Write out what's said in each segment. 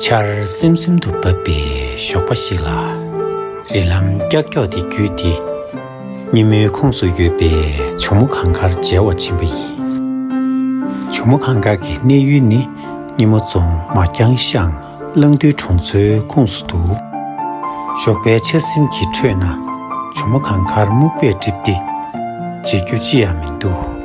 ཆར་སིམ་སིམ་དུ་བབས་པའི་ཞོགས་པ་ཞིག་ལ། རི་ལམ་ཀྱག་ཀྱོག་དེ་བརྒྱུད་དེ། སྙེ་མོའི་ཁོངས་སུ་ཡོད་པའི་བྱུར་མོ་གངས་དཀར་མཇལ་བར་ཕྱིན་པ་ཡིན། བྱུར་མོ་གངས་དཀར་གྱི་གནས་ཡུལ་ནི་སྙེ་མོ་རྫོང་མ་རྐྱང་ཤང་གླང་རྡུལ་གྲོང་ཚོའི་ཁོངས་སུ་འདུག། ཞོགས་པའི་ཆར་སིམ་གྱི་ཁྲོད་ན་བྱུར་མོ་གངས་དཀར་སྨུག་པས་བསྒྲིབས་ཏེ་མཇལ་རྒྱུ་ཅི་ཡང་མི་འདུག།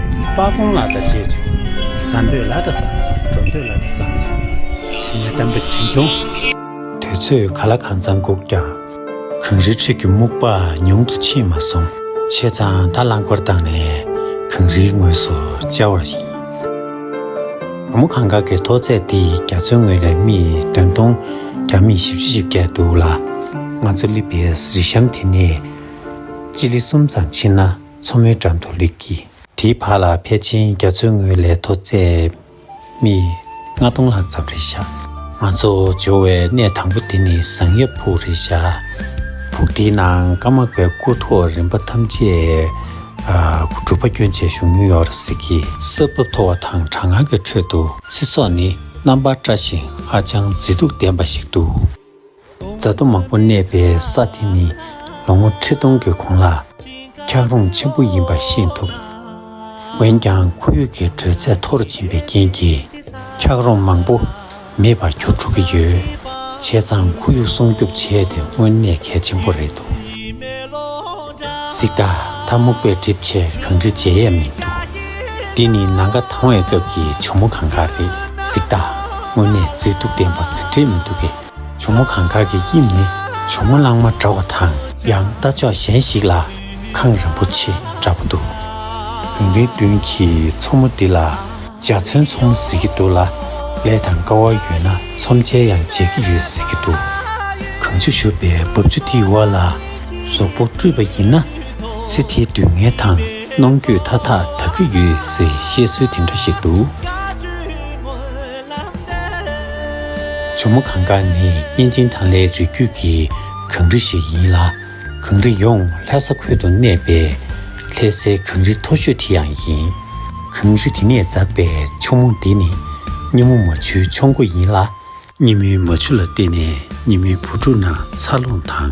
སྤ་གོང་ལ་དང་བྱེད་བྱུང། བཟའ་འདོད་ལ་དང་བཟང་ཞིང་འགྲོ་འདོད་ལ་དང་བཟང་ཞིང། ཟིན་ནས་གཏམ་རྒྱུད་དྲན་བྱུང། དུས་ཚོད་ག་ལ་གང་ཙམ་བསྒུགས་ཀྱང། གངས་རིའི་ཁྲོད་ཀྱི་སྨུག་པ་ཉུང་དུ་ཕྱིན་མ་སོང། བྱས་ཙང་ད་རླངས་འཁོར་བཏང་ནས་གངས་རིའི་ངོས་སུ་བཅར་བ་ཡིན། བུ་མོ་གངས་དཀར་གྱི་མཐོ་ཚད་འདི་ཡི་རྒྱ་མཚོའི་ངོས་ལས་མི་བདུན་སྟོང། རྒྱ་མི་བཞི་བཅུ་བཞི་བརྒྱད་འདུག་ལ། ང་ཚོ་བསླེབས་པའི་རི་གཤམ་དེ་ནས་སྤྱི་ལེ་གསུམ་ཙམ་ཕྱིན་ན། མཚོ་མོའི་འགྲམ་དུ་ལུས་ཀྱིས། དེའི་བར་ལ་ཕལ་ཆེན་རྒྱ་མཚོའི་ངོས་ལས་མཐོ་ཚད་སྨི་ལྔ་སྟོང་ལྷག་ཙམ་རེ་བཞག། ང་ཚོ་འབྱོར་བའི་གནས་དང་པོ་དེ་ནི་བཟང་ཡབ་ཕུག་རེད་བཞག། ཕུག་དེའི་ནང་ཀ་མག་པའི་སྐུ་ཐོག་རིམ་པ་ཐམས་ཅད་སྒྲུབ་པ་སྐྱོན་ཆེ་ཞུ་མྱོང་ཡོད་རེད་ཟེར། ས་བབ་མཐོ་བ་དང་གྲང་ངར་གྱི་ཁྲོད་དུ། ཚེ་སྲོག་ནི་རྣམ་པར་བཀྲ་ཞིང་ཧ་ཅང་མཛེས་སྡུག་ལྡན་པ་ཞིག་འདུག། རྫ་རྡོ་མང་པོ་གནས་པའི་ས་དེ་ནི་ལོ་ངོ་ཁྲི་སྟོང་གི་གོང་ལ་འཁྱགས་རོམ་ཆེན་པོ་ཡིན་པ་ཤེས་ཐུབ། འོན་ཀྱང་ཁོར་ཡུག་གི་དྲོད་ཚད་མཐོ་རུ་ཕྱིན་པའི་རྐྱེན་གྱིས་འཁྱགས་རོམ་མང་པོ་མེད་པར་གྱུར་འགྲོ་གི་ཡོད། བྱས་ཙང་ཁོར་ཡུག་སྲུང་སྐྱོབ་བྱས་ཏེ་དངོས་གནས་གལ་ཆེན་པོ་རེད་འདུག་གཟིག། ད་ལྟ་སྨུག་པས་གྲིབ་ཆས་གང་འདྲི་བརྗེད་ཡས་མི་འདུག་འདི་ནི་ནང་དགའ་དྭངས་བའི་སྐབས་ཀྱི་བྱུ་མོ་གང་གཱ་རེད་གཟིག། དངོས་གནས་མཛེས་སྡུག་ལྡན་པ་ག་འདྲས་མི་འདུག་གས། བུ་མོ་གངས་དཀར་གྱི་དབྱིབས་ནི་བུ་མོ་གླང་མ་འདྲ་བ་དང། ཡང་རྟ་མཆོག་གཞན་ཞིག་ལ་ཁང་རིན་པོ་ཆེ་འདྲ་པོ་འདུག། བུན་རིའི་མདུན་གྱི་མཚོ་མོ་འདི་ལ་འཇའ་ཚོན་ཚོང་ཟེར་གྱི་འདུག་ལ། ལས་དང་དཀའ་བ་ཡོད་ན་ཚོམས་ཆལ་ཡང་མཇལ་གྱི་ཡོད་ཟེར་གྱི་འདུག། གངས་ཆུ་བཞུར་བའི་རྦབ་ཆུ་དེའི་འོག་ལ་ཟོག་པོ་བཀྲུས་པ་ཡིན་ན། ཚེ་ཐའི་སྡུག་བསྔལ་དང་གནོང་འགྱོད་མཐའ་དག་དག་གི་ཡོད་ཟེར་བཤད་སྲོལ་དེ་འདྲ་ཞིག་འདུག། ཇོ་མོ་གངས་དཀར་ནི་གཉན་ཆེན་ཐང་ལྷའི་རིགས་རྒྱུད་ཀྱི་གངས་རི་ཞིག་ཡིན་ལ། གངས་རི་ཡོངས་ལྷ་ས་ཁུལ་དུ་གནས་པའི་ལྷའི་སའི་གངས་རི་མཐོ་ཤོས་དེ་ཡང་ཡིན། གངས་རི་དེ་ནས་འཛགས་པའི་ཆུ་མོ་འདི་ནི་སྙེ་མོ་མ་ཆུའི་མཆོང་སྒོ་ཡིན་ལ། སྙེ་མོའི་མ་ཆུ་ལ་བརྟེན་ནས་སྙེ་མོའི་བུ་ཕྲུག་རྣམས་འཚར་ལོངས་དང།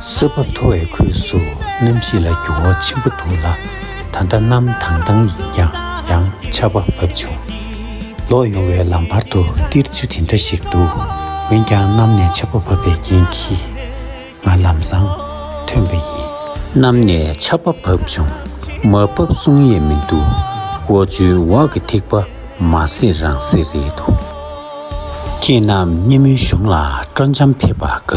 སྲིད་པ་མཐོ་བའི་ཁུལ་སུ་གནམ་གཤིས་ལ་འགྱུར་བ་ཆེན་པོ་འདུག་ལ་ད་ལྟ་གནམ་དྭངས་དྭངས་ཡིན་ཀྱང་ཡང་ཆར་བ་བབས་བྱུང། ལོག་ཡོང་བའི་ལམ་བར་དུ་ཏིལ་ཆུ་དེ་འདྲ་ཞིག་འདུག་འོན་ཀྱང་གནམ་ནས་ཆར་བ་བབས་པའི་རྐྱེན་གྱིས། ང་ལམ་བཟང་ཐོན་པ་ཡིན། གནམ་ནས་ཆར་པ་བབས་བྱུང། མ་བབས་གསུང་ཡས་མི་འདུག་འོ་ཆུའི་འོག་གི་ཐིགས་པ་མ་སེར་རང་སེར་རེད་འདུག། ཁྱེད་རྣམས་སྙེ་མོའི་གཞུང་ལ་སྤྲོ་འཆམ་ཕེབས་པ་དགའ་བསུ།